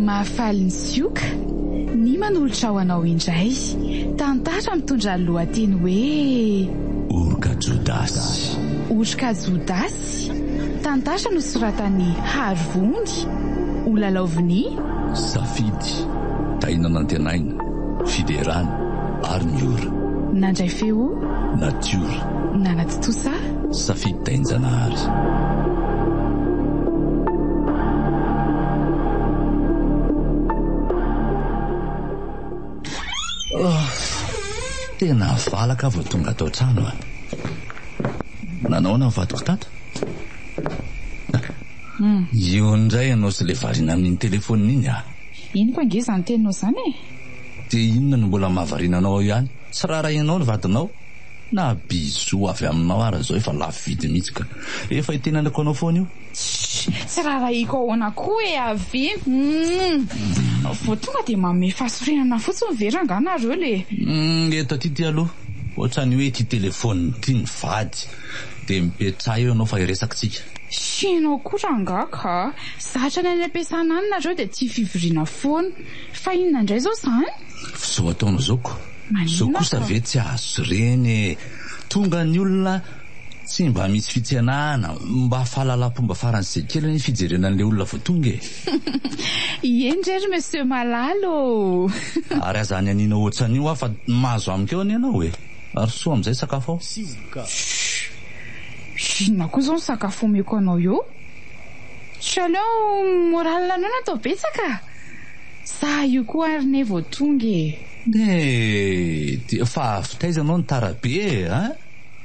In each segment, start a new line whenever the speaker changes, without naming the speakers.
Mahafaly ny sioka ny manolotra ho anao indray tantara mitondra ny lohateny hoe Oroka
Jodasy. Oroka
Jodasy, tantara nosoratan'i Harivony, ho lalaovin'i. Safidy,
Tahiana Nantenaina, Fiderana ary Miora. Nandray feo.
Natiora.
Nanatontosa.
Safidy
Dainjanahary. Tena valaka vao tonga ato an-trano ah. Nanaona ny vadiko tato? Hmm. Io indray ianao sy ilay variana amin'iny telefaonina iny ah. Henoko ange izany
teninao izany e. Dia inona
no mbola mahavariana anao ao ihany? Tsy raharahianao ny vadinao? Na bisous avy aminao ara zao efa lafo vidy mihitsy ka. Efa hitenenako anao foana io. Tssy! Tsy
rarahiko ahoana koa e avy! Humm! Vao tonga dia manome fasorenana fotsiny ve rangah nareo le. Humm eto aty ty
aloha ohatrany hoe ity telephone ity ny vady dia mipetraha eo ianao fa hiresaka tsika. Tsy ianao
koa rangah ka! Zatra ny any ampiasana any nareo dia tia fivoriana foana. Fa inona indray zao zany? F'izao ataonao
zao ko! Zao kosa ve tsy azo reny e! Tonga ny olona tsy mba misy fitsenahana, mba fahalalam-pomba faran'izay kely anie fijerena an'ilay olona vao tonga e! Ieny
re ry Monsieur Malala ô! Ary aza
any aniana otsan'io hoa fa mahazo amiko eo anie ianao e! Ary soa amin'izay sakafo ao.
Shhh! Inona koa izao ny sakafo omeko anao eo? Chaleur moral-na anao no atao betsaka? Sa io koa ary ne vao tonga e! Eh!
Fa avy taiza ianao ny tara be e! An!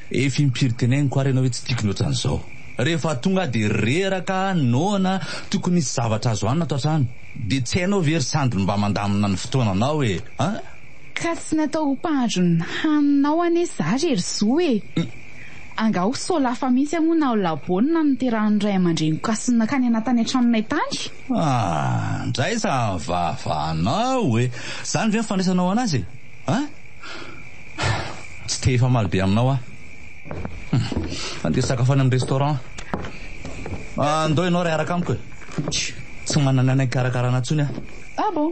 Efa impiry teneniko ary ianao hoe tsy tiako ny ohatran'izao. Rehefa tonga aho dia reraka, noana, tokony hisy zavatra azo hanina ato an-trano. Dia tsy hainao ve ry sandry mba mandamina ny fotoananao e! An! Ka tsy
natao ho mpahandro ny haninao anie za re ry zo e! Angaha ho solafa mihitsy aho moa na ho laboana no niterahan'ny ray aman-dreniko hasinina kany anatany an-tranonay tany? Ah!
Ndray za havaha-vaha anao e! Zany ve ny fandraisanao anazy e! Ha! Tsy te hifamaly be aminao aho. Hum! Andeha hisakafo any amin'ny restaurant. Ah, ndao ianao ry hiaraka amiko e! Tsy manana aina hikarakarana intsony aho. Ah bon!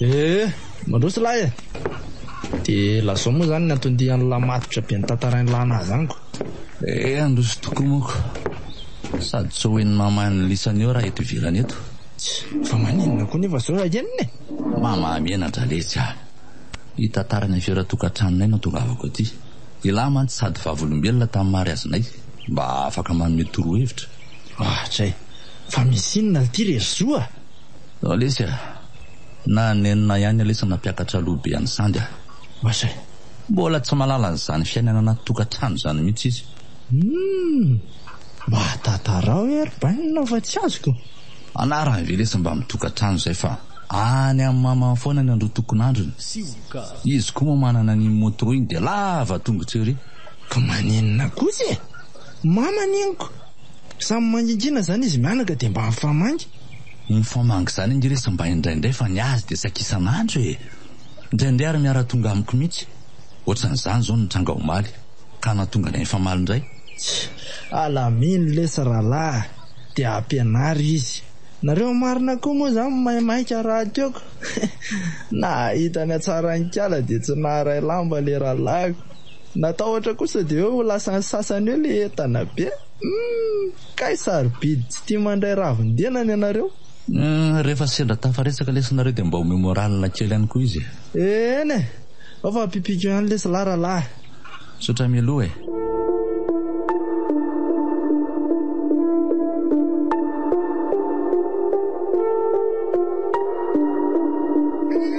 Eh! Mandroso lahy eh! De lazao moa zany ny antondian'ny lahy matotra be notantarain'ny lahy nahazo ango? Eh! Handroso
tokoa manko! Sady tsy ho henon'ny mamaha ny lisany eo raha eto ivelany eto. Tsia! Fa maninona
koa nefa zao raha henona eh! Mamaha miana-dralehitsy
ah! Hitantara ny afera tokantranonay no tongavako aty. I lahy mantsy sady vavolombelona tamin'ny mariazinay, mba afaka manome torohevitra. Ohatra eh!
Fa misy inona ity re ry Zo ah! Zao lesy
a! Na nenina ihany lesy nampiakatra loha be an'i Sandy a! Oaze!
Mbola tsy
mahalala an'izany fiainana anaty tokantrano izany mihitsy izy. Humm!
Mba tantarao ee ry Bainina fa tsy azoko! Anarany ve
lesy mbamin'ny tokantrano izay fa any amin'ny mamany foana ny androtokon'androny? Izy koa moa manana an'iny moto iny dia lava tongotra ery. Ka maninona
kosa e! Mama neniko! Samy mangingina izany izy mianaka dia mba mifamangy. Mifamangy
izany ange resy mba indraindray fa ny azy dia tsy ankisan'andro e! Indraindray ary miara-tonga amiko mihitsy. Ohatran'izany izao ny nitranga omaly ka nahatonga anay nifamaly indray.
Alamino lesy rahalahy dia hampianaro izy. Nareo marina koa moa izany maimaika rahatiako. Nahita ny hatsaran-kala dia tsy naharay lamba ilay rahalahiko. Natahotra kosa dia eo ho lasan'ny sasany eo ilay entana be. Humm! Kay sarobidy tsy tia mandray ravin-denany ianareo? Humm! Rehefa
sendra tafaresaka lesy nareo dia mba omeo moral kely ihany koa izy e! Eny e!
Ao fa ampipiko ihany lesy lahy rahalahy! Misaotra
mialoha e!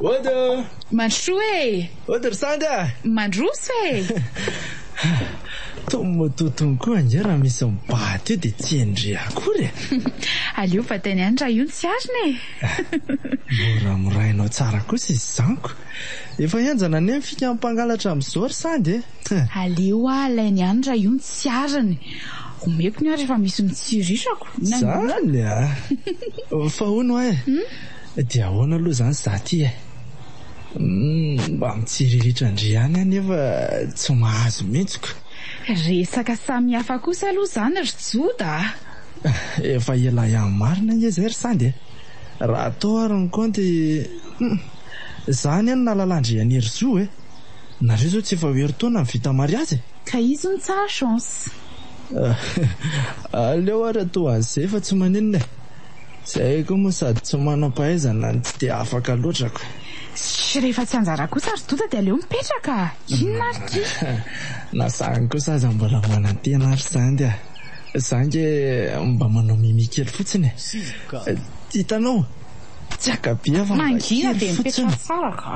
Ody ô! Mandrosoa e! Ody ry sanga!
Mandroso
e! Tony
mototon koa ange raha misy mibahata eo dia tsy hendry akory e! Aleo
bataina ihany raha io no tsy arina e!
Mora morainao tsara kosa izy izany ko! Efa henjana anie ny fika mpangalatra amin'izao ry sanga e! Aleo hoa
alaina ihany raha io no tsy arina e! Omeko ny ahy rehefa misy mitsirirako! Izany a!
Fa hono hoa e! Dia ahoana aloha izany izaho ity e? Humm, mba mitsiriritra ndry ihany aho nefa tsy mahazo mihitsiko. Resaka
samy hafa kosa aloha izany ry Joda a! Efa
ela ihany marina ange izay ry Sandy e! Raha atao ary ny kaonty, humm, izaho anie no nahalala an-dry Herizo e! Nareo izao tsy efa ho herintaona no vita mariazy e! Ka izy no tsara
chance.
Aleo ary atao an'izay fa tsy maninona e! Zahay koa moa sady tsy manam-pahaizana no tsy dia afaka loatra ko. Ssh rehefa
tsy anjara kosa ry doda dia aleo mipetraka a! Inona ary ity? Na zany
kosa aza mbola manantena ary zany a! Za ange mba manao mimi kely fotsiny e! Hitanao? Tsy haka be aho fa mba kely fotsiny. Mangina dia mipetraha
tsara ka!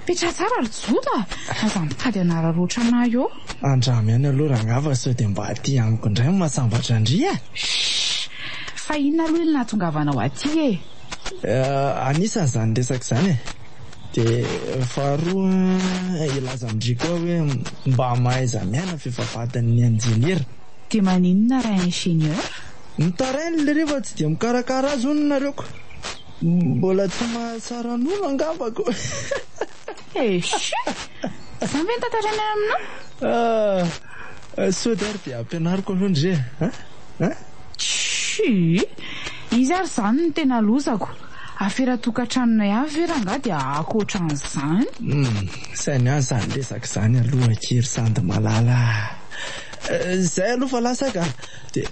Mipetraha tsara ry joda a! Aza mitady hanararaotra anah eo. Andramo ihany aloha
rangah fa sao dia mba aty amiko indray ny mahasambatra an-dry e! Shh!
Fa inona aloha ily nahatongavanao aty e?
Anisany izany resaka izany e! Dia faharoa hilaza amin-dry koa aho hoe mba mahaiza miaina f'efa vadin'ny injeniera. Dia maninona
raha ingénieur? Mitaraina
ilay re fa tsy dia mikarakara azy hono nareo ko! Mbola tsy mahatsara nono angambako!
Eshi! Izany ve ny tantaranay aminao? Ah! Sao dia ary dia ampianariko
aloha ndry e! An? Tshi!
Izy ary izany no tena lozako. Afera tokantranonay avy ve rangaha dia ankoatran'izany? Hum! Sahy
miahy izany resaka izany aloha akia ry Sandy malala ah! Izay aloha fa lasa ka!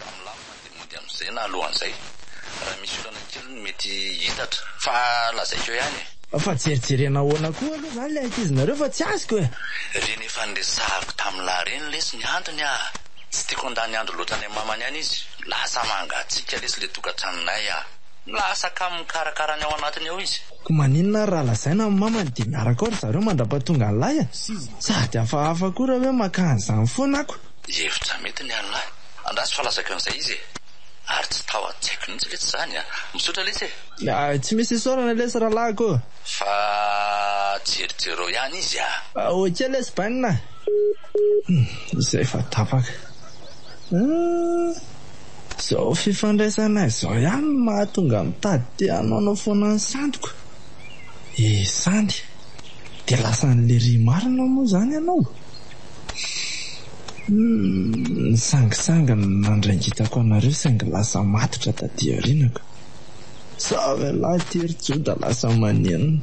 Raha milamina dia mody hamonjena alohan'izay. Raha misy olana kely no mety hiitatra. Fa lazaiko eo ihany e! Fa jerijerena
ahoana koa aloha izany ilay ankizinareo fa tsy azoko e! Ireny efa
niresahako tamin'i Lahy ireny lesy ny antony a! Tsy tiako handany andro loatra any amin'ny mamany any izy. Lasa mangatsiaka lesy ilay tokantranonay a! Lasa kamo mikarakara ny ao anatiny ao izy. Koa maninona ary raha
lazaina amin'ny mamany dia miaraka ao ry zareo mandra-pahatongan'i Lahy a! Sady hafahafa koa raha hoe maka an'izany foana ako. Hevitra mety ny
an'lah. Andraso fa lazaiko an'izay izy e! Ary tsy tao an-tsaiko mihitsy lesy izany a! Misaotra lesy e! Hay, tsy misy
isaorana lesy rahalahiko ô! Fa
jerijereo ihany izy a! Ok lesy
bainina a! Humm, izay efa tapaka. Humm, izao fifandraisanay izao ihany no mahatonga mitady te hanaonao foana ny santiko. Izany. Dia lasan'lery marina moa izany ianao? Nisangisangy ny nandrangitako anareo saingy lasa matotra taty aoriana ka. Zavelahy ity ry Joda lasa manenina.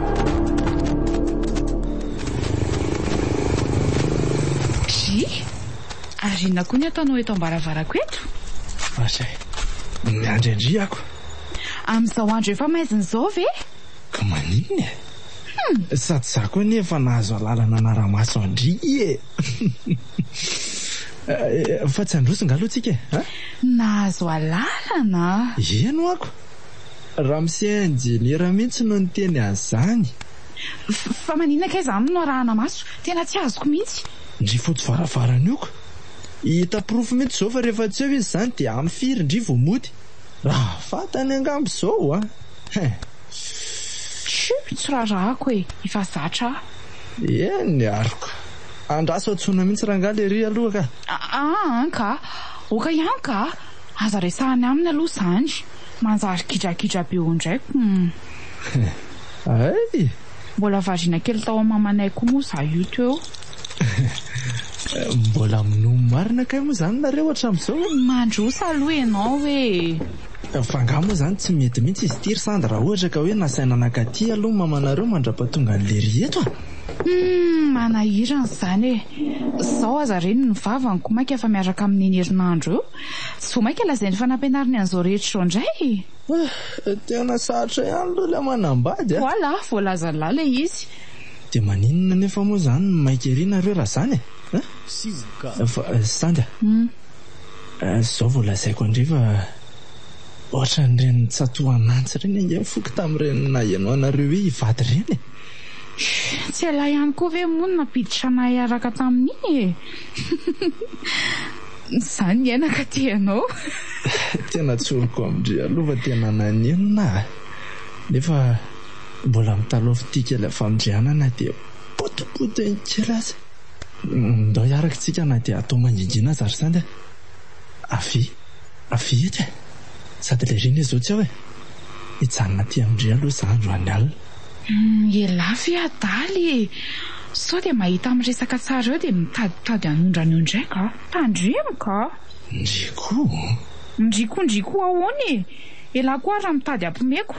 Drii! Ary inona koa ny ataonao eto am-baravarako eto? Aza
e!
Miandry an-dry ako. Amin'izao andro efa maizina izao
ve?
Ka
maninona e? Hum! Sady izaho koa anie efa nahazo alalana hanara-maso an-dry e! Fa tsy handroso angaha aloha tsika e? Nahazo
alalana? Eny ho'ako!
Ramose injeniera mihitsy no niteny an'izany.
Fa maninona kay izany no arahana maso? Tena tsy azoko mihitsy. Ndry fotsy
varavarana io ka. Hita porofo mihitsy izao fa rehefa tsy eo izy izany dia amin'ny firy ndry vao mody? Raha fantany angamba izao oa? Hein.
Chut, tsy raharahako e, efa zatra aho. Eny
ary ka. Andraso antsoina mihitsy rangahy lery aloha ka. Aa an ka.
Oka ihany ka. Aza resahany aminy aloha zany. Manjary gidragidra be eo indray humm. Ay!
Mbola variana
kely tao am mamanay koa moa za io teo.
Mbola minoa marina kay moa zany nareo hatramizao? Mandroso aloha
ianao ee.
Fa angaha moa zany tsy mety mihitsy izy ity ry Sandra raha ohatra ka hoe nasaina nankaty aloha ny mamanareo mandrapatonga an'i Lery eto a! Humm
manahirana izany e! Zao aza reniny ny vavany koa mainka efa miaraka amin'iny herinandro eo. Tsy vao maika lazainy fa nampianariny an'izao rehetra izao indray e! Eh, tena
sarotra ihany aloha ilay manambady a! Voilà, voalazan'lah
ilay izy. Dia maninona
anefa moa izany no maika ery nareo raha izany e? Eh? Fa Sandy a! Izao vao lazaiko an-dry fa ohatran'ireny tsatohanantsy ireny ange ny foko tamin'ireny naheno anareo hoe hivady ireny e!
Tsy ialahy ihany koa ve moa no nampiditra anay hiaraka tamin'iny e! Za niaina ka tia anao. Tena
tsoriko amin-dry aloha fa tena nanenina aho nefa mbola mitalaho fitia kely amin'ny fandrianana dia potipotiny kely aza. Ndao hiaraka isika na dia hatao mangingina aza ry Sandy a! Avia, avia eto e! Sady lery anie izao tsy ao e! Hijanona aty amin-dry aloha za androany alina. Ialahy
ve adala e! Sao dia mahita miresaka tsara eo dia mitaditady hanondrana eo indray ka! Tandremo ka! Ndry koa? Ndry koa ndry koa ahoana e! Ialahy koa ary raha mitady hampomeko!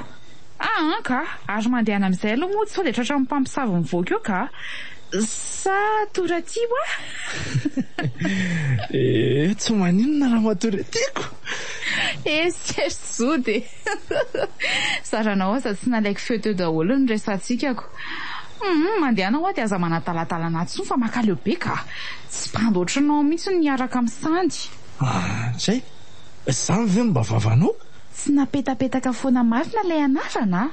Aa ka! Ary mandehana amin'izay aloha mody sao dia tratran'ny mpamosavy mivoaka eo ka! Sa tora tia hoa?
Ee, tsy maninona raha matoria tiako! Ee, tsy haiso
zody e! Zaranao aza tsy nalaiko feo teo daholo ny resahatsikako. Hum mandehana hoa de aza manadaladala anah tsony fa makaleo be ka. Tsy bandy ohatranao mihitsy ny miaraka am sandy. Ahh tsy
hay, zany ve no mba vavanao? Tsy napetapetaka
foana marina ilay anarana a!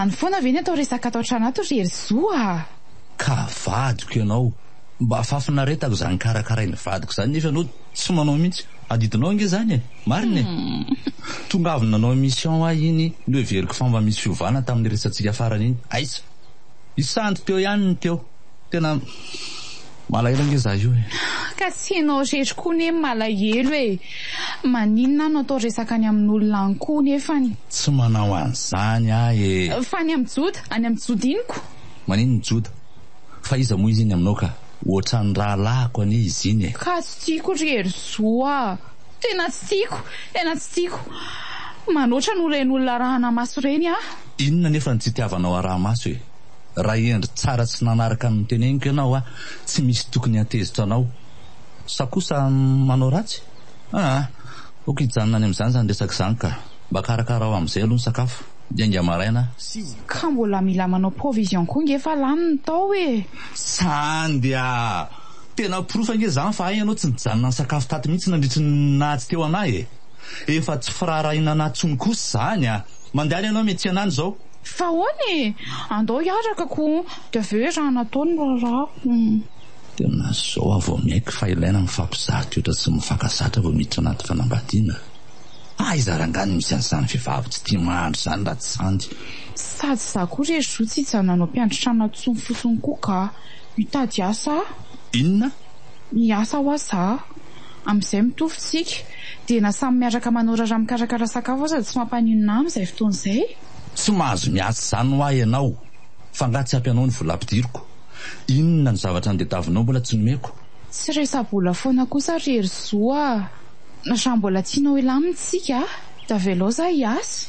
Izany foana ve ny atao resaka ato an-trano ato ry Hery Zo ah! Ka
vadiko ianao. Mba fahafinaretako izany karakarain'ny vadiko izany nefa ianao tsy manao mihitsy. Adidinao ange izany e! Marina e! Tonga avy nanao émission aho iny, noheveriko fa mba misy fiovana tamin'ny niresatsika farany iny. Aiza! Isandry teo ihany ny teo. Tena malahelo ange za io e! Ka tsy ianao
irery koa anie no malahelo e! Maninona aho no atao resaka any amin'olona any koa nefany. Tsy manao
an'izany aho e! Fa any amin'i Joda?
Any amin'i Joda inoko? Maninona i Joda?
Fa iza moa izy iny aminao ka? Ohatran'ny rahalahiko anie izy iny e! Ka tsy tiako ry
Herizoa! Tena tsy tiako, tena tsy tiako manoatra noho ireny olona arahanamaso ireny aho. Inona anefa no tsy
itiavanao arahamaso e? Raha hendry tsara tsy nanaraka ny noteneniko ianao aho, tsy misy tokony hantezitra anao. Sa kosa manao ratsy? Aa! ok hijanona any amin'izany izany resaka izany ka. Mba karakarao amin'izay aloha ny sakafo, hiainga maraina aho. Ka mbola
mila manao provision koa nge fa lany ny tao e! Sa
andeha! Tena porofo ange izany fa hay ianao tsy nijanona nisakafo tato mihitsy nandritry ny naha tsy teo anah e! Efa tsy firaharahiana anah tsony kosa izany a! Mandehana ianao mety tsy anany izao. Fa ahoana e!
Andao hiaraka koa dia avy eo iaraha natao ny raharaha. Tena
izao aho vao miaiky fa ilaina ny mifampizaha toetra sy mivaka zatra vao miditra anaty fanambadiana. Aiza ary angaha ny misy an'izany vehivavy tsy tia mahandro izany raha tsy sandy.
Sady
za
koa re zo tsy hijanona hanao
mpiandry
trano atsony fotsiny
koa
ka. Mitady asa aho. Inona?
Miasa
hoa zah. Amin'izay mitovy tsika. Dia na samy miaraka manorara mikarakara sakafo aza tsy mampaninona ahy amin'izay fotoana izay. Tsy mahazo
miasa izany hoa ianao. F'angaha tsy ampy anao ny vola ampidiriko? Inona ny zavatra nitadiavinao mbola tsy nomeko? Tsy resa-bola
foana kosa ry Herizoa a! Raha mbola tianao hilamina isika, dia avelao zah hiasa.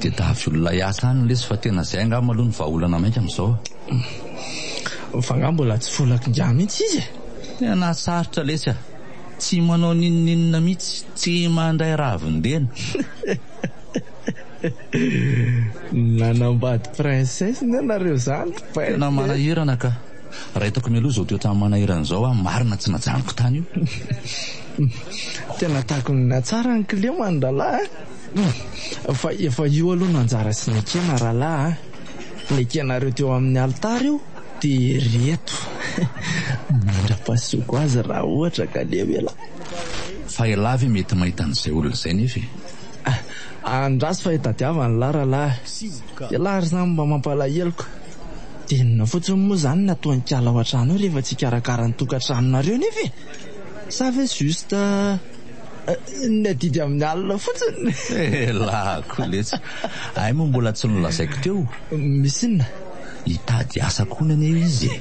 tedavy olona hiasa any lesy fa tena izay angah maloha ny vahaolana mainka amin'izao.
Fa ngah mbola tsy volaky ngah mihitsy izy e. Tena sarotra
lesy ah. Tsy manao ninoninona mihitsy, tsy mandray ravin-dena.
Nanambady princesse ny anareo zany ry peste e. Tena manahirana
ka. Raha hitako mialoha izao toetra manahirana izao aho marina tsy najanoko tany io. Tena
takony ny hatsara ny climat ny rahalahy a. Fa efa io aloha no anjara sy ny ekena rahalahy a. Ny ekenareo teo amin'ny alitara io dia ireto. Mandra-pasoko azy raha ohatra ka leo ela. Fa
elah ve mety mahita an'izay olona izay nefa e.
Andraso fa hitadiavana ny lara-lahy. Ialahy ry zany mba mampalahelo ka! Dia inona fotsiny moa izany ny ataon-kala ao an-trano ao rehefa tsy hikarakara ny tokantranonareo nefa e! Sa ve juste ny adidy amin'ny alina fotsiny? Elako
letsy! Hay moa mbola tsy nolazaiko teo. Misy inona?
Hitady
asa koa ny anay izy e!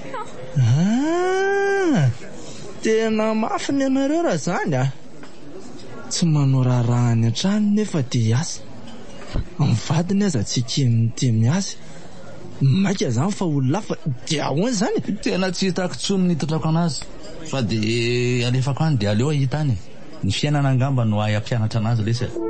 Ah!
Tena mafy ny anareo raha izany a! Tsy manao raharaha any an-trano nefa te hiasa. Ny vadiny aza tsy eken'ny te miasa. Maika izany fa olona hafa dia ahoana izany e? Tena tsy hitako
intsony ny hitondrako an'azy fa dia alefako any dia aleo hahita any e! Ny fiainana angamba no hahay hampianatra an'azy lesy e!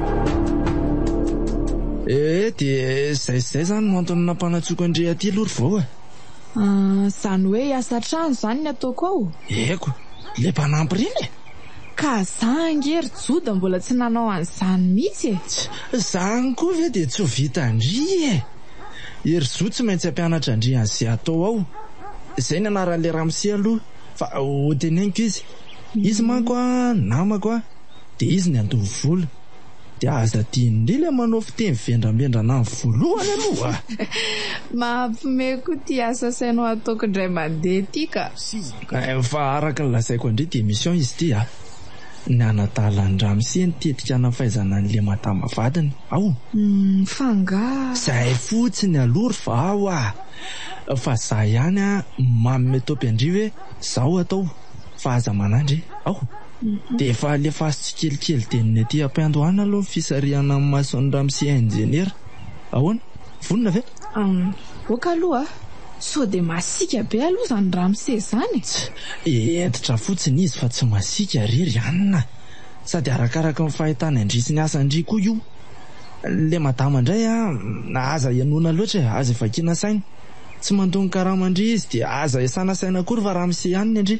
Eh dia izay izay izany no antony nampanatsoko an-dry aty aloha ry vao eh. Ah,
izany hoe hiasa an-trano izany ny ataoko ao? Eko,
ilay mpanampy ireny e! Ka za
ange ry Joda mbola tsy nanao an'izany mihitsy e! Tsia, izany
koa ve dia tsy ho vitan-dry e! I ry Zo tsy maintsy hampianatra an-dry an'izay atao ao. Izay ny anaran'ilay ramose aloha, fa hoteneniko izy. Izy manko an, namako an. dia izy ny handoa vola. Dia aza adinon'i ilay manao fiteny vendrambendrana any voalohany aloha a!
Mahampime koa ity asa asainao ataoko indray mandeha ity ka! Fa
araka ny lazaiko an-dry Démission izy ity a! Ny hanadala an-dRamose ny tetika hanafaizana an'ilay madama vadiny ao. Humm fa angaha.
Izay fotsiny
aloha ry vaho a! Fa izaho ihany a! Manome topy an-dry hoe izao atao fa aza manandry e! Ao. Dia efa alefaso tsikelikely dia ny aty ampiandohana aloha ny fisarihana amin'ny mason'ny ramose injeniera. Ahoana? Vonona ve? Aoka
aloha a! Sao dia masiaka be aloha izany ramose izany e! Tsy! Hentitra
fotsiny izy fa tsy masiaka re ry anona a! Sady arakaraky ny fahitany an-dry sy ny asan-dry koa io. Ilay madama indray a! Aza henoina loatra e! Aza ivakiana saina. Tsy mandongo karama an-dry izy dia aza iasana saina akory fa ramose ihany ny an-dry.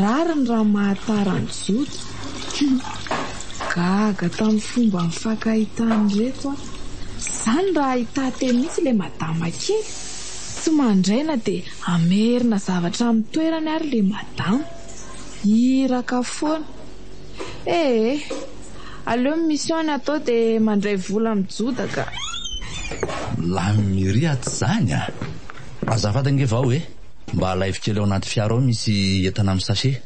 Rariny raha mahatara ny Joda. Hum. Gaga tamin'ny fomba nifankahitàn'ireto aho. Izany raha ahità teny mihitsy ilay madama kely. Tsy mandray na dia hamerina zavatra amin'ny toerany ary ilay madama. Iraka foana. Ee. Aleo ny mission ny atao dia mandray vola amin'ny Joda ka. Lanin'irya
atsy izany a! Azafady ange vao e! Mba alaivo kely ao anaty fiara ao misy entana amin'ny sachet.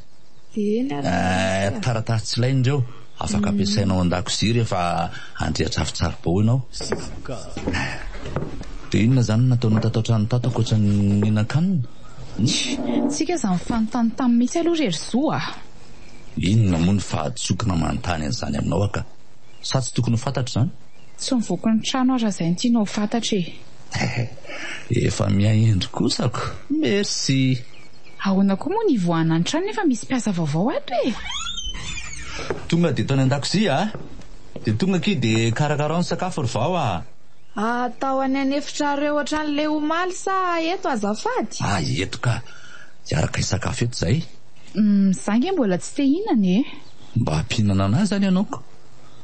Eh, taratasy tsy ilaina ireo, afaka ampiasaina ao an-dakozia rehefa handrehitra afo tsaribao ianao. Dia inona izany no nataonao tato an-trano tato ankoatra ny nihinan-kanina? Tsia,
tsy ka izany fanontany taminy mihitsy aloha re ry Zo ah! Inona
moa no fahadisoana manontany an'izany aminao aho ka! Sa tsy tokony ho fantatro izany? Tsy mivoaka ny
trano aho raha izay no tianao ho fantatra e!
Efa miha hendry kosa ko. Merci. Ahoana
koa moa ny hivoahana ny trano nefa misy mpiasa vaovao ato e!
Tonga dia tao any an-dakozia a! Dia tonga akia dia karakarao ny sakafo ry vao a! Atao
any an'efitrareo hatrany le omaly sa eto azafady? Ah eto ka!
Hiaraka hisakafo eto izay. Hum za nge
mbola tsy te hihinana e! Mba mpihinana
anah zany ianao ko!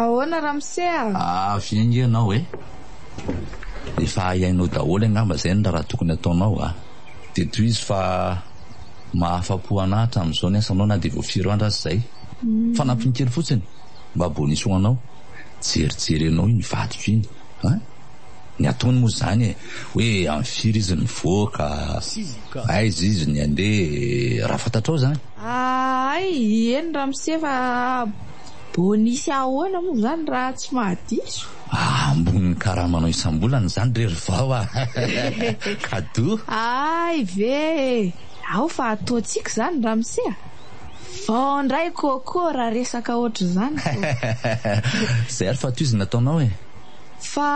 Ahoana
ramose a? Ah, avy enga ianao e.
Efa hainao daholo angamba izay ny raha tokony hataonao a. Dia tohizo fa. Mahafapo anah hatramin'izao ny asanao na dia vao firy andro aza izay. Fanampiny kely fotsiny mba bonus ho anao. Jerijery anao iny vadiko iny a! Ny ataony moa izany e! Hoe amin'ny firy izy mivoaka, aiza izy ny handeha e! Raha fantatrao izany. Ahay,
eny ramose fa bonus ahoana moa izany raha tsy mahadiso? Ah ambony ny
karamanao isam-bolana izany re ry vao ah! Kadoa! Hay ve
e! Ao fa ataontsika izany ramose a! Vao indray coco raha resaka ohatr'izany koh!
Izay ary fa tohizo ny ataonao e! Fa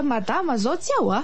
madama izao tsy ao a!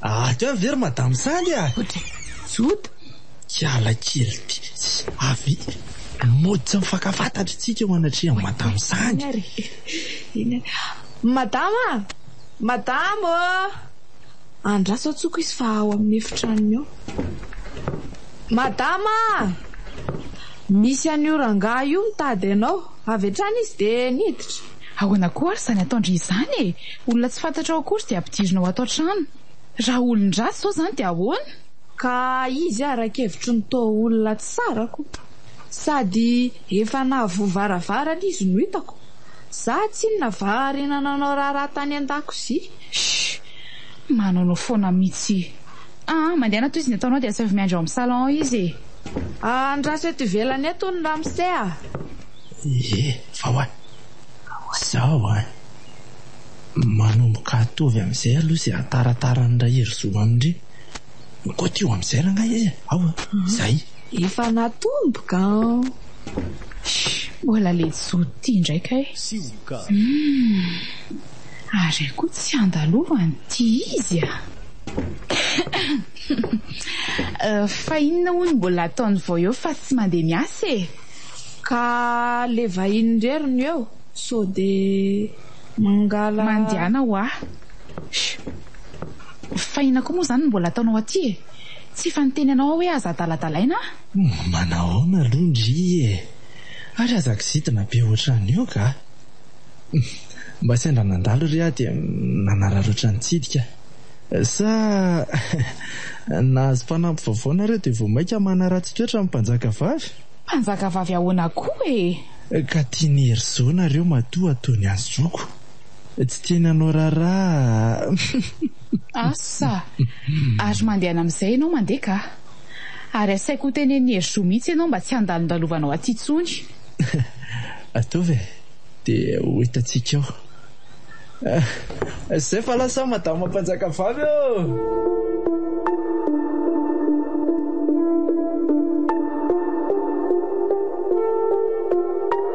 Ato ve ry madame Sandy a? Joda,
hiala
kely ty. Avy mody tsy mifankafantatry tsika eo anatrehan'i madame Sandy. Madama
a! Madama ô! Andraso an-tsoko izy fa ao amin'ny efitranony ao. Madama a! Misy an'io rangahy io mitady anao. Avy hatrany izy dia niditra. Ahoana koa ary
izany ataon-dry izany e! Olona tsy fantatrao akory dia ampidirinao ato an-trano. Raha olon-dratsy izao izany dia ahoana? Ka
izy ara-kevitro ny toa olona tsara koa. Sady efa nahavoa varavarana izy no hitako. Za tsinona va ariana nanao raharaha tany andakozia? Shh!
Manaonao foana mitsy. Aa mandeana tohizo ny ataonao dia asaivo miandry ao amin'ny salon ao izy e. Aa andraso
eto ivelany eto hono ramose a. Ie fa
hoa izao an! Manomboka atovy amin'izay aloha izay atarataran'i Rahery zo amin-dry Koto io amin'izay rangahy e! Ao a! Izay.
Efa
natomboka an! Shh!
Mbola le jono ty indray kay! Humm! Ary ahy koa tsy andalovany ty izy a! Ahem! Fa inona hono mbola ataony vao eo fa tsy mandeha miasa e! Ka
le vahiny irery no eo so de mangala. Mandehana hoa!
Shh! Fa inona koa moa zany no mbola ataonao aty e! Tsy efa niteny anao aho hoe aza adaladalaina a! Manahoana
aloha ndry e! Ary aza kizitina be ohatran'io ga! Mba sendra nandalo re aho dia nanararaotra nitsidika. Sa nahazo mpanampy vaovao nareo dia vao mainka manaratsy toetra amin'ny mpanjaka vavy? Mpanjaka
vavy ahoana koa e! Ka tian'i
Herizao nareo matoa toa ny an'i Zoky. Tsy tiany hanao raharaha.
Asa! Ary mandehana amin'izay ianao mandeha ka. Ary asaiko ho tenenin'i Herizo mihitsy ianao mba tsy handalondalovanao aty intsony.
Ataovy e! Dia ho hitantsika eo. Izay fa lasa Madama Mpanjakavavy ô!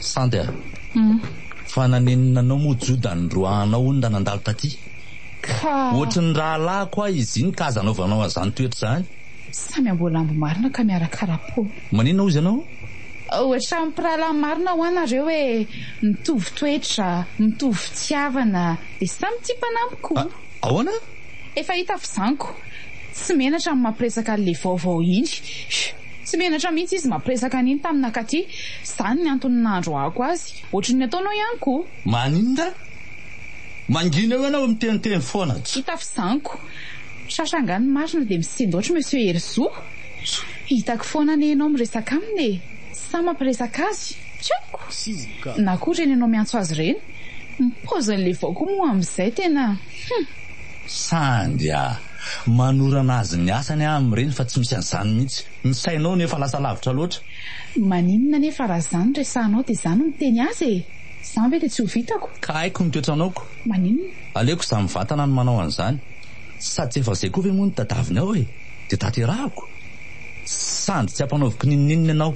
Sandy a! fa nanenina anao moa Joda nindroahanao hono raha nandalo taty? Ka. Ohatry ny rahalahiko aho izy iny ka aza anaovanao an'izany toetra izany. Samy amboalambo
marina ka miara karapaony. Maninona hozy ianao?
Ohatran'ny
mpirahalahy marina hoa nareo e, mitovy toetra, mitovy fitiavana, dia samy tia mpanampy koa. Ahoana?
Efa hita
fizanko, tsy menatra ny mampiresaka an'le vaovao iny. Tsy menatra mihitsy izy mampiresaka an'iny tamina Katy, izany ny antony nandroahako azy. Ohatry ny ataonao ihany koa. Maninona?
Mangina eo ianao miteniteny foana atsy. Hita fizanko.
Tratra angaha ny marina dia misendaotra Monsieur Herizo? Hitako foana anie ianao miresaka aminy e! Sa mampiresaka azy? Tsy haiko. Na koa ireny ianao miantso azy ireny? Ny paoziny levao koa moa amin'izay tena hum.
Sandia. Manorana azy ny asany aho amin'ireny fa tsy misy an'izany mihitsy. Ny sainao no efa lasa lavitra loatra. Maninona anie
fa raha izany resahanao dia izaho no miteny azy e! Izany ve dia tsy ho vitako? Ka haiko ny toetranaoko.
Maninona? Aleoko
izaho mivantana
no manao an'izany. Sady tsy efa izay koa ve moa ny tadiavinao e! Dia tanterahako. Sandy tsy ampanaoviko n'inon'inona ianao.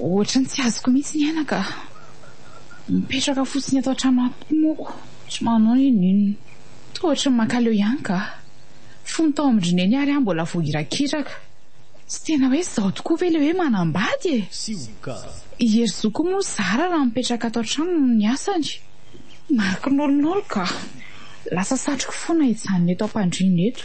Ohatra ny tsy azoko mihitsy ny aina ka. Mipetraka fotsiny eto an-trano ato moako, tsy manao na inona na inona. Toa ohatra ny mankaleo ihany ka. Fony tao amin-dry Neny ary aho mbola vao irakiraka. Tsy tena hoe izao tokoa ve ilay hoe manambady e? I Herizo koa moa zara raha mipetraka ato an-trano noho ny asany. Mariky nolo nolo ka. Lasa satriko foana hijanona eto am-pandriana eto.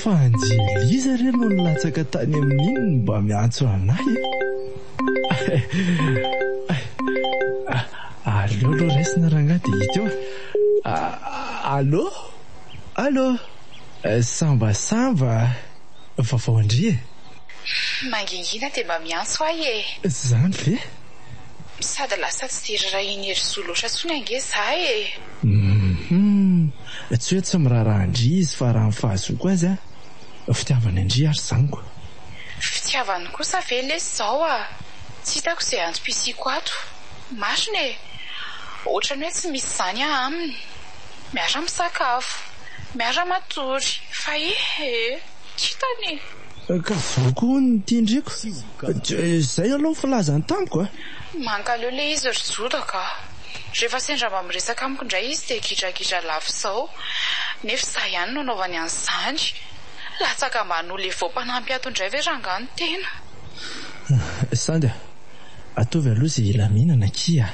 Fa Anjelisa re no nilatsaka tany amin'iny no mba miantso anay e! Aleo aloha raisina rangahy dia hita eo e! Allô? Allô? Samba samba a! Fa vao ndry e!
Mangingina dia mba miantso ahy e! Izany ve?
Sady
lasa tsy dia rarahian'i Herizo loatra intsony ange izaho e! Hum!
Tsy hoe tsy miraharaha an-dry izy fa raha ny fahazoako azy an, fitiavany an-dry ary zaniko. Fitiavany
kosa ve lesy zao a! Tsy hitako izay antom-pisiako ato. Marina e! Ohatrany hoe tsy misy izany aho aminy. Miara misakafo, miara matory, fa ee! Kintana e! Ka
zao koa hono ny tian-driko. Izay aloha ny filazany tamiko a! Mankaleo le
izy ry Joda ka! Rehefa sendra mba miresaka amiko indray izy dia gidragidra lava izao, nefa izaho ihany no anaovany an'izany. Latsaka ambany ho levo mpanampy ato indray ve rangahy ny tena?
Sanda, ataovy aloha izay hilaminana akia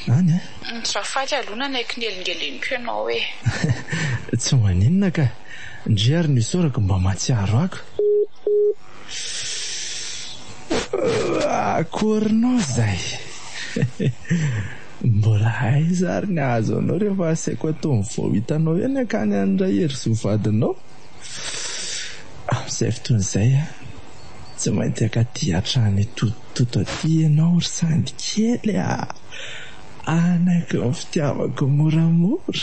an e! Ny Rafady
aloha nanaiky ny elingeleniko ianao e!
Tsy maninona ka! Ndry ary ny isaorako mba mahatsiaro ako. Akory nao izay! Mbola aiza ary ny hahazo anao rehefa asaiko atao ny vao hitanao eo ny akany an'i Raherisoa vadinao? Amin'izay fotoana izay tsy maintsy hankaty hatrany Totototo aty ianao ry Sandy kely a! Hanaky ny fitiavako moramora.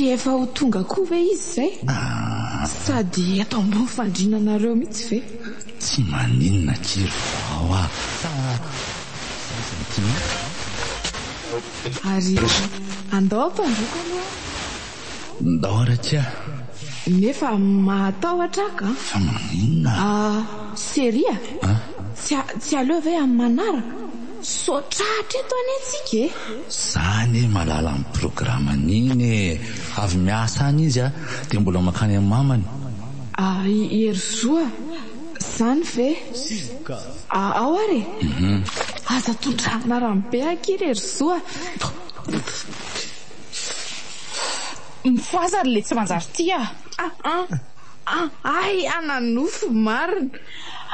tsy efa ho tonga koa ve izy izay ah. sady eto ambony fandrinanareo mihitsy ve tsy maninona
kiry vao a ary
andao ampandroko aloha
Ndao Rakia a! Nefa
mahatahotra aho ka! Fa maninona?
Ah, série
a? Ah? Tsy a, tsy aleo ve amin'ny manaraka? Misaotra hatreto anie tsika e! Za anie
malala amin'ny programan'iny e! Avy miasa any izy a, dia mbola mankany amin'ny mamany. Ah, i
Herizoa, zany ve? Ah, ao ary e! Aza tondrahana rano be akia ry Herizoa.
Mifohaza ry le tsy manjary tia a! Aa!
Ahay ana nofo marina!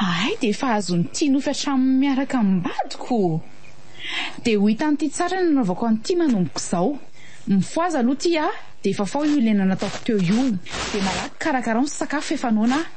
Ahay dia
efa azony tia nofy hatramin'ny miaraka amin'ny vadiko! Dia ho hitan'ity tsara ny anaovako an'ity manomboka izao! Mifohaza aloha tia a! Dia fafao io lena nataoko teo io! Dia malaky karakarao ny sakafo efa noana a!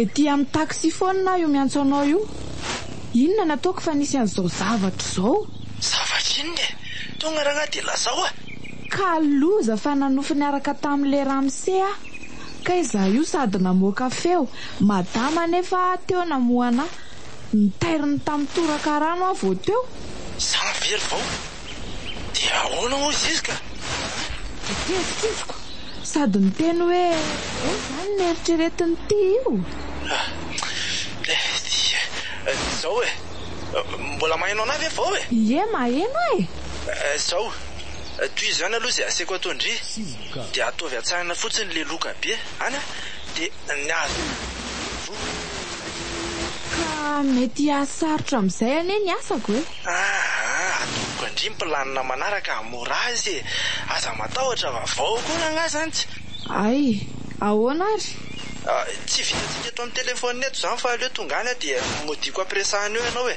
Ety amin'ny taxi foana aho io miantso anao io. Inona no ataoko fa nisy an'izao zavatra izao? Zavatra inona
e? Tonga rangahy dia lazao a! Ka
loza fa nanofy niaraka tamin'ilay ramose aho. Kay za io sady namoaka feo madama nefa teo namohana ahy. Nitairiny tamin'ny toraka rano aho vao teo. Za very
vao. Dia ahoana hoy izy ka? Dia tezitra
izy ko sady niteny hoe ahoana izany ny eritreretiny ty io? Dia
izao e. Mbola maheno anay ve vao e? Ie maheno aho
e.
Izao. Toy izany aloha izay aseko atao ndry dia ataovy atsahana fotsiny le loka be ana de ny azo voa.
Ka mety hahasarotra amin'izay anie ny asako e! Aa atoroko
andry ny planina manaraka hamora azy e! Aza matahotra fa vao koa rangahy zany tsy. Ay!
Ahoana ary? Tsy
vitantsika eto amin'ny telephone eto izany fa aleo tonga any aho dia modiako après sahanao ianao e!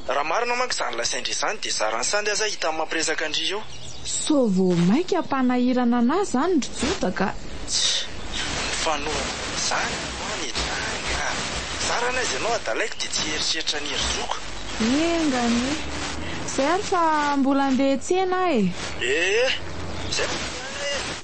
Raha marina manko izany lazain-dry izany dia zaran'i Sandy aza hita amin'ny mampiresaka an-dry io. Sao vao
mainka hampanahirana anah zany ry Joda ka. Tsia,
mifanohana amin'izany ny oany e Jany a! Za raha anaiza ianao adalaiko dia tsy hieritreritra an'i Hery zoko. Enga
anie. Zay ary fa mbola andeha hiantsena aho e. Ee,
zay fa andeha any aho e.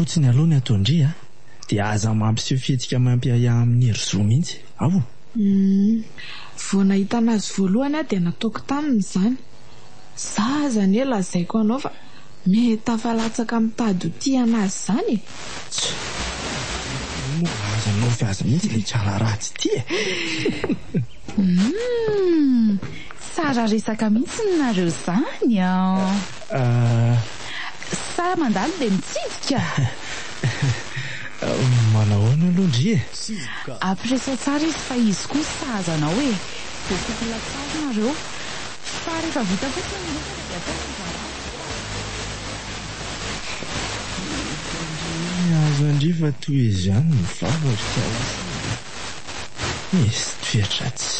fotsiny aloha ny ataon-dry a, dia aza mampiseho fihetsika mampiahiahy amin'ny ry zo mihitsy, ao.
Vao nahitana azy voalohany aho dia nataoko taminy izany. Za aza anie lazaiko anao fa meta fa latsaka mitady ho tia anazy zany e! Tjo!
Inona no azonao avy azy mihitsy ilay drala ratsy ity e! Humm!
Tsara resaka mihitsy ny nareo zany an! Sa mandalo dia mitsidika?
Manao ahoana aloha ndry e! Ampiresaho
tsara izy fa izy koa sahaza anao e! Dia tokony latsahina nareo!
Fa rehefa vita fotsiny ny resaka dia ataovy ny zava-misy ve raha tsy misy fahadisoana eo? Mety handre ny hazo handriva toy izany ny vavako ka lasa nisy toe-dratsy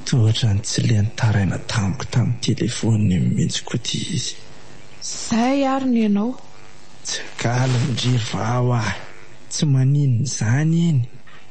tohatra ny tsy leny taraina tamiko tamin'ny telefaoniny iny mihitsy koa ity izy. Zay
ary ny anao. Tsy
galim-dry vaho aho tsy maninona izany iny.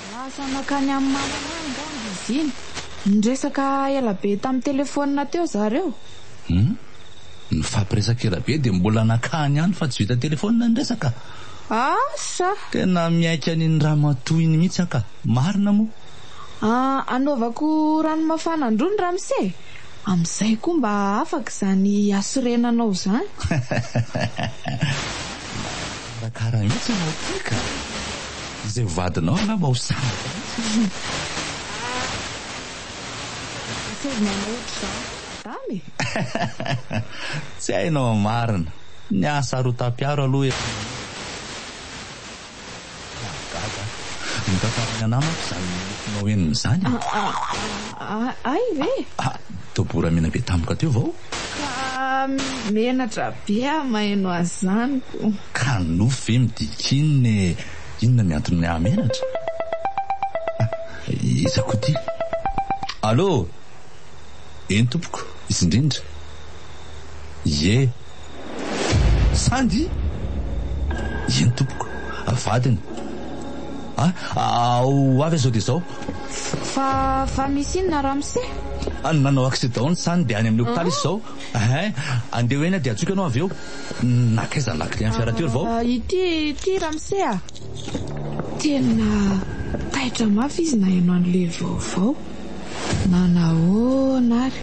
Lasa nankany amin'i mamanay angamba izy iny. Niresaka ela be tamin'ny telefaonina teo izaho ireo. Humm. Nifampiresaka
ela be dia mbola nankany ihany fa tsy vita telefaonina ny resaka. Asa!
Tena miaiky
an'iny ramatoa iny mihitsy aho ka. Marina moa. Ah, anaovako
rano mafana an-droa ny ramose e. Amin'izay koa mba afaka izany hasorenanao izany.
Mikarakara mihitsy ianao ty ka! Izay ho vadinao angamba ho sambatra mihitsy izy io! Asaivo manao ohatr'izany
madama e!
Tsy hainao ny marina! Ny ahy sarotam-piaro aloha efa manomboka eo e! Mahagaga! Mitantara ny anamako izany nofinao henony izany e!
Ahy ve? Dobo
ramena be tampoka teo vao. Ka
menatra be aho maheno azy zany ko. Ka nofy
ve midika inona e? Inona ny antony mahamenatra? Ah, iza koa ty? Allô? Eny tompoko, izy indrindra. Ie. Sandy? Eny tompoko, vadiny. Ah, ah, ho avy aho izao dia izao. Fa
fa misy inona ramose? Any nanao
accident ny sany dia any amin'ny hopitaly izy izao eeh andeha ho eny aho dia antsoiko ianao avy eo Nankaiza ny la clé an'ny fiara teo ry vao? Ity ity
ramose a! Tena taitra mafy izy nahay manome vaovao na nahoana ary.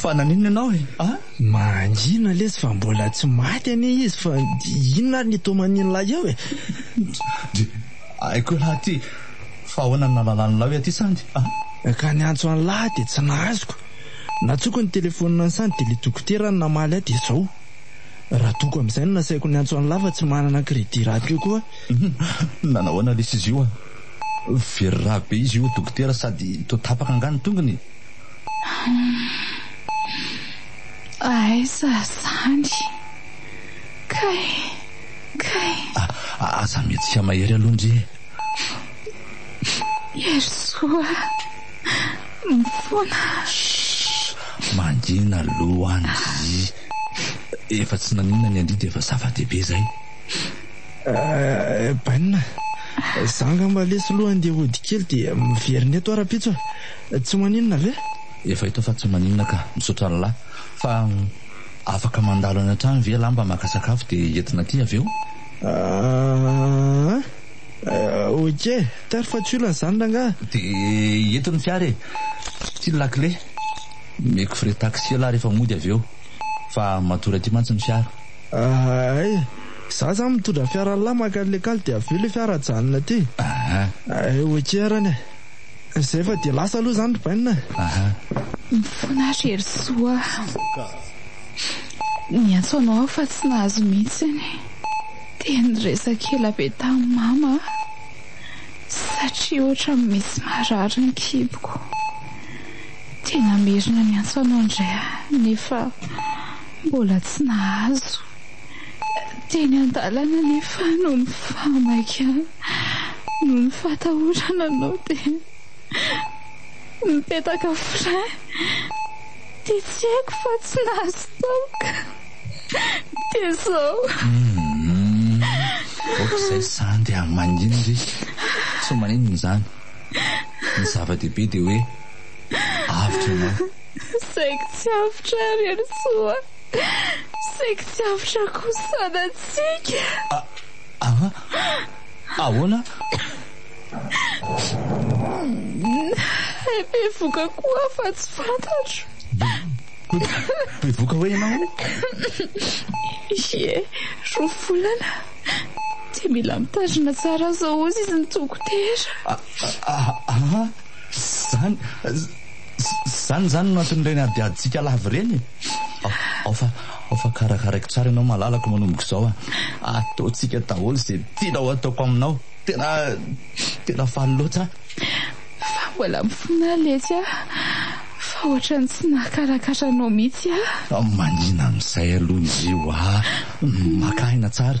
fa naninona ianao e a mangina
lesy fa mbola tsy maty anie izy fa inona ary ny toman'in'ilay eo e Haiko
elah aty fa ahoana ny nahalalan'lah hoe aty Sandy a! Ka niantso
an'lah dia tsy nahazoka. Nantsoko ny telefonina an'i Sandy dia ilay dokotera no namaly ahy dia izao. Radoko amin'izay no nasaiko niantso an'lah fa tsy manana crédit radio koa aho. Nanahoana
lesy izy io a! Very rà be izy io dokotera sady toa tapaka angaha ny tongony e! Humm!
Aiza Sandy kay! Kay!
Ah, aza mihetsika mahery aloha ndry e! Herisoa
ah! Mifona! Shh! Mangina
aloha ndry! Efa tsy naninona ny an-dry dia efa zava-dehibe izay! Eh,
bainina! Za angamba lesy aloha handeha hody kely dia miverina eto aho rahampitso eh! Tsy maninona ve? Efa hita fa tsy
maninona ka! Misaotra an'lah! Fa. Afaka mandalo any an-trano ve ialahy mba maka sakafo dia entina aty avy eo? Aah, ok, tary fa tsy olana izany rangahy. Dia eto ny fiara e! Ity ny lakile. Omeko frais taxi ialahy rehefa mody avy eo. Fa matory aty mantsy ny fiara. Ahay,
izaho izany mitondra fiara an'lah mankany lekal dia avy eo ilay fiara ajanona aty. Aah. Ok arany e! Izay fa dia lasa aloha izany ry Bainina a! Aha.
Mifona ry Herisoa a! Niantso anao aho fa tsy nahazo mihitsy ny dia niresaka ela be tamin'i Mama aho satria ohatran'ny misy marary ny kiboko. Dia namerina niantso anao indray aho nefa mbola tsy nahazo. Teny an-dalana anefa noho ny fahamaikana, noho ny fahatahorana anao dia nipetaka frein dia tsy haiko fa tsy nahazo toaka dia izao. Ohatr'izay
zany dia maninona ry? Tsy maninona izany. Ny zava-dehibe dia hoe avotra ianao. Saingy tsy
avotra ry Helosoa. Saiky tsy avy rakosana antsika. Ah ah
ahoana?
Hay bevoka koa aho fa tsy fantatro.
Bevoka hoe ianao? Ie,
roa volana. Dia mila mitandrina tsara aza hozy izy ny dokotera. Ah ah izany izany izany no anton'ireny adiadintsika lava ireny e. Ao fa, ao fa karakaraiko tsara ianao malalako manomboka izao a. Ataontsika daholo izay tianao ataoko aminao. Tena, tena faly loatra aho. Fa mbola mifonà letsy aho fa ohatran'ny tsy nahakarakara anao mihitsy aho. Manina
amin'izay aloha izy io a. Maka aina tsara.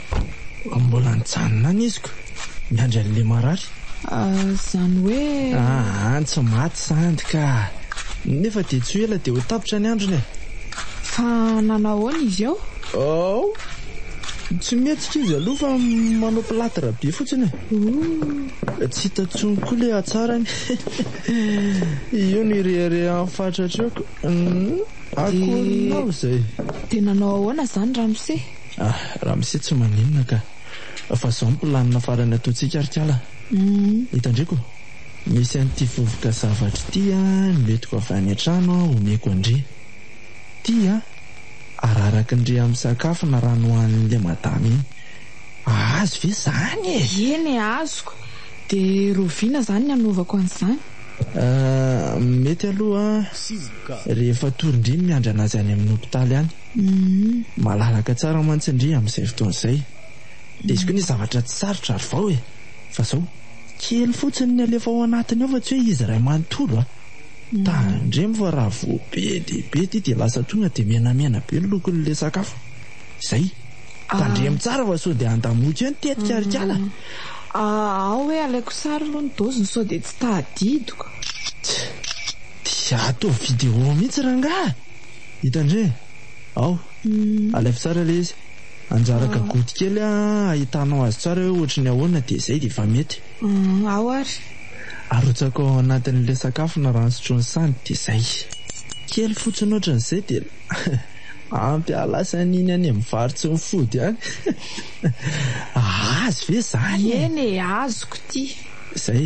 Mbola nijanona any izy ko miandry an'ilay marary. Izany
hoe. Aa tsy maty
sandry ka. Nefa dia tsy ho ela dia ho tapitra ny androny e. Fa
nanao ahoana izy eo? Ao!
Tsy mihetsika izy aloha fa manao platre be fotsiny e. Ooh! Tsy hita intsony koa ilay hatsarany. Io no ireharehan'ny fatratra eo ko. Akory nao izay. Dia nanao
ahoana izany ramose? Ah, ramose
tsy maninona ka. Fa zao ny planina farany ataontsika ry kala. Hitandriko, misy an'ity vovoka zavatra ity noentiko avy any an-trano omeko an-dry. Ity ararakin-dry amin'ny sakafo na rano hohanin'ilay madama iny. Ahazo ve izany e? Eny e, azoko.
Dia roviana izany ny hanaovako an'izany? Ah,
mety aloha rehefa atoron-dry ny miandry an'azy any amin'ny hopitaly any. Malalaka tsara mantsy ndry amin'izay fotoana izay. Indesiko anie zavatra tsy sarotra ary vao e! Fa izao, kely fotsiny ny alefa ao anatiny ao fa tsy hoe izy iray manontolo a! Tandremo fa raha vao be dia be ity dia lasa tonga dia menamena be ny lokon'ilay sakafo. Izay. Tandremo tsara fa sao dia handamoka eo ny tetika ry kala. Ao
hoe alaiko sary aloha ny doziny sao dia tsy tadidiko. Tch!
Dia ataovy vidéo mihitsy rangahy! Hita ndry e! Ao! Alaivo tsara ilay izy. Anjara gagouty kely ahitanao azy tsara hoe ohatry ny ahoana dia izay dia efa mety. Ao ary.
Arotsako
ao anatin'ilay sakafo ny rano sotroin'i Sandy dia izay. Kely fotsiny ohatry ny izay dia ampy hahalasa an'iny any amin'ny vary tsy mifody any. Azy ve izany e? Eny e, azoko
ity. Izay.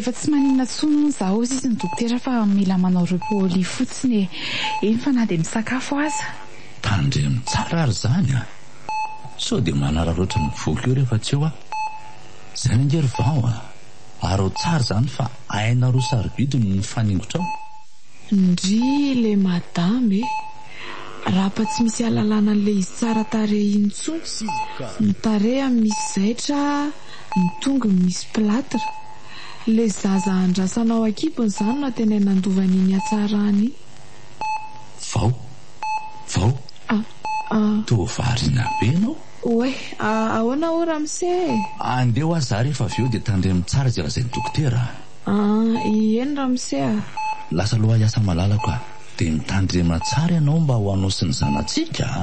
efa tsy maninona tsony moa za ozy izy ny dokotera fa mila manao repooli fotsiny e eny fa na dia misakafo aza tandremo
tsara ary zany a sao dia manararoatra ny foko eo rehefa tsy eo aho Zany ange ry vao a! Arao tsara izany fa hainareo sarobidy ny mifaningotrao. Ndrii
le madame e! Rapa tsy misy alalana an'le izy tsara tarehy iny intsony, ny tarehany misy zaitra, ny tongony misy platre. Le zaza andrasana ao ankibony zany no tena nandova an'iny hatsarany iny. Vao!
Vao! Ah! Ah! Toa variana be ianao. Oay,
ahoana hoy ramose e? Andeha ho azy za
rehefa avy eo dia tandremo tsara izay lazain'ny dokotera a! An,
ieny ramose a! Lasa loha
hiasa malalako a! Dia mitandrema tsara ianao mba ho anao sy ny zanatsika a!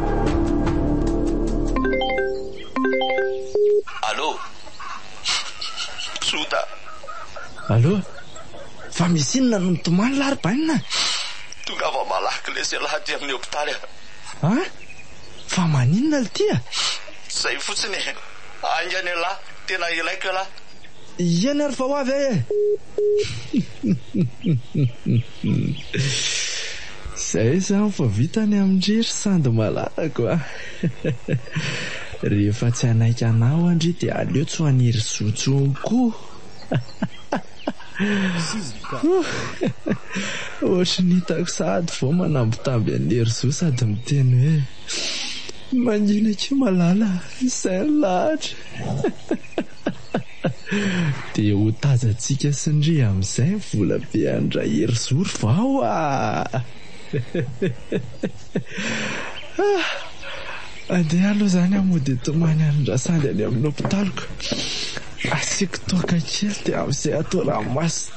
Allo! Tsota! Allo! Fa misy inona no mitomany lahy ry Bainina a! Tongava
malaky lesy ialahy aty amin'ny hopitaly a! A!
Fa maninona lty a! Zay fotsiny
e! Haingana ialahy, tena ilaiko ialahy! Iany ary
fa ho avy aho e! Izay izany fa vita ny amin-dry ry sandy malalako a! Rehefa tsy hanaiky anao an-dry io dia aleo tsy ho an'iry zo intsony koa! Ohatry ny hitako sahady vao manambitamby an'iry zo sady miteny hoe, Mangiana akia malala, izay no lahatra! Dia ho tazantsika sy ny ry amin'izay ny volabe an-dRaherizoro vao a! Andeha aloha izany aho mody hitomany an-dRasandy any amin'ny hopitaliko. Asiako toaka kely dia amin'izay atao ranomasina.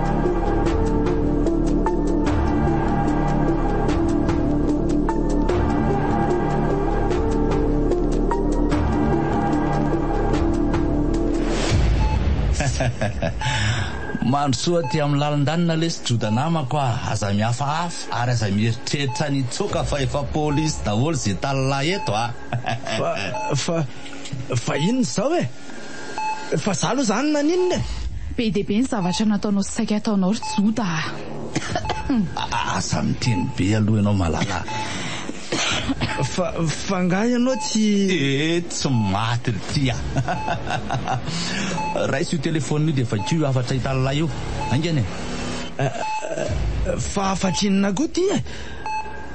Mandrosoa aty amin'ny lalin-danona lesy Joda namako a! Aza mihafahafa ary aza mieritreritra ny hitsoaka fa efa polisy daholo izay tany lahy
eto
a! Fa, fa,
fa inona izao e? Fa za aloha zany naninona e! Be dia be ny zavatra
nataonao sy saika ataonao ry Joda a!
Aza miteny be aloha ianao Malala a! Fa
fa angaha ianao tsy. Ee tsy maty
ry tia a! Raiso io telephone io dia vakio io hafatra hitan'lah io. Haingana e!
Fa hafatr'inona koa ity e!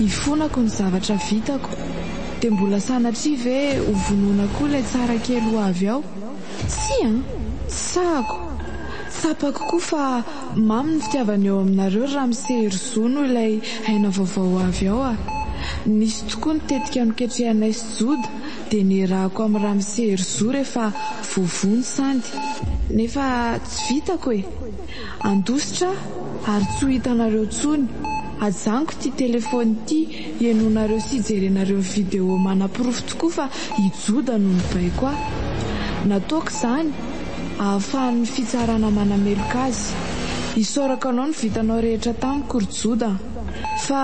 Ifonako ny zavatra vitako, dia mbola sanatria ve ho vonoina koa ilay tsara kely ho avy ao? Tsia an! Tsy sahako! Tsapako koa fa mamy ny fitiavana eo aminareo ry Ramse ry Zo noho ilay aina vaovao ho avy ao a! Nisy tokoa ny tetika noketrehanay sy Joda dia nierahako amin'i Ramse ry Zo rehefa voavono sandy. Nefa tsy vitako e! Andositra ary tsy ho hitanareo tsony. Ajanoko ity telephone ity ienonareo sy ijerenareo video manaporofo tokoa fa i Joda no nibaiko ahy. Nataoko izany ahafahan'ny fitsarana manameloka azy. Isaorako anao ny vitanao rehetra tamiko ry Joda. Fa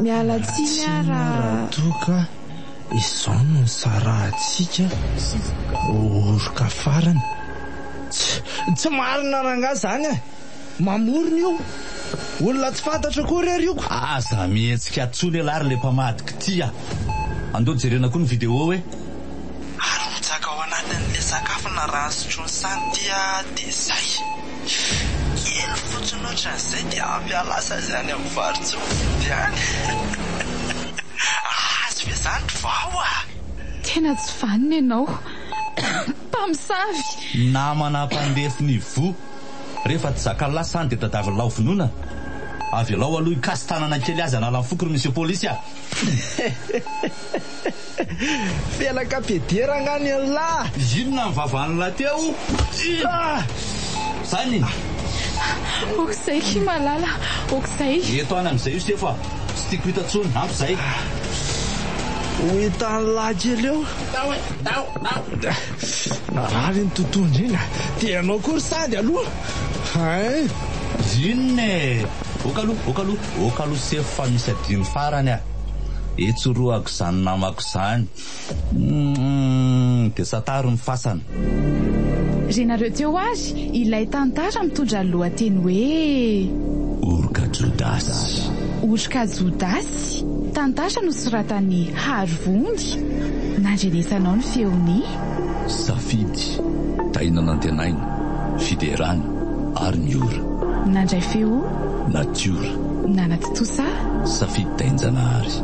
miala tsiny aho raha.
Izao no nisarahantsika ho oroka farany. Tsy marina rangahy izany e! Mamorona io! Olona tsy fantatro koa re ry oko! Aza mihetsika
intsony elah ry le mpamadika ty a! Andao jerena koa ny vidéo hoe.
Arotsaka ao anatin'ilay sakafo naraha sotroin'i Santy dia izay. Kely fotsiny ohatran'izay dia ampy ahalasa azy any amin'ny varotsofy any. Ahazo ve izany ry vao a! Tena
tsy vanona ianao mpamosavy! Namana mpandefy
ny voa. Rehefa tsy zaka lasa any dia tadiavin'lao vonoina. Avelao aloha hikasi-tanana kely azy hanala ny foko ry Monsieur Polisy a!
Felaka peder angaha ny anlah. Inona ny vavanla
teo? Zany e!
Ok zay ki malala, ok zay. Eto any amzay io
sefo a! Tsy tiako hita tsony, ampy zay.
Ho hitanlah kely eo. Tao e! Tao! Tao! Narary iny totohondry iny a! Dia ianao koa ry sady aloha! Hein!
Inona e! Ok aloha, ok aloha, ok aloha sefo fa misy adino farany a! Etsorohako izany namako izany. Humm dia sataro ny fasana. Re
nareo teo ary ilay tantara mitondra ny lohateny hoe. Oroka
Jodasy. Oroka
Jodasy, tantara nosoratan'i Harivony. Nandrenesanao ny feon'i. Safidy,
Tahiana Nantenaina, Fiderana ary ny ora. Nandray feo.
Natiora. Nanaty.
Tout ça? Safidy
Tainjanahary.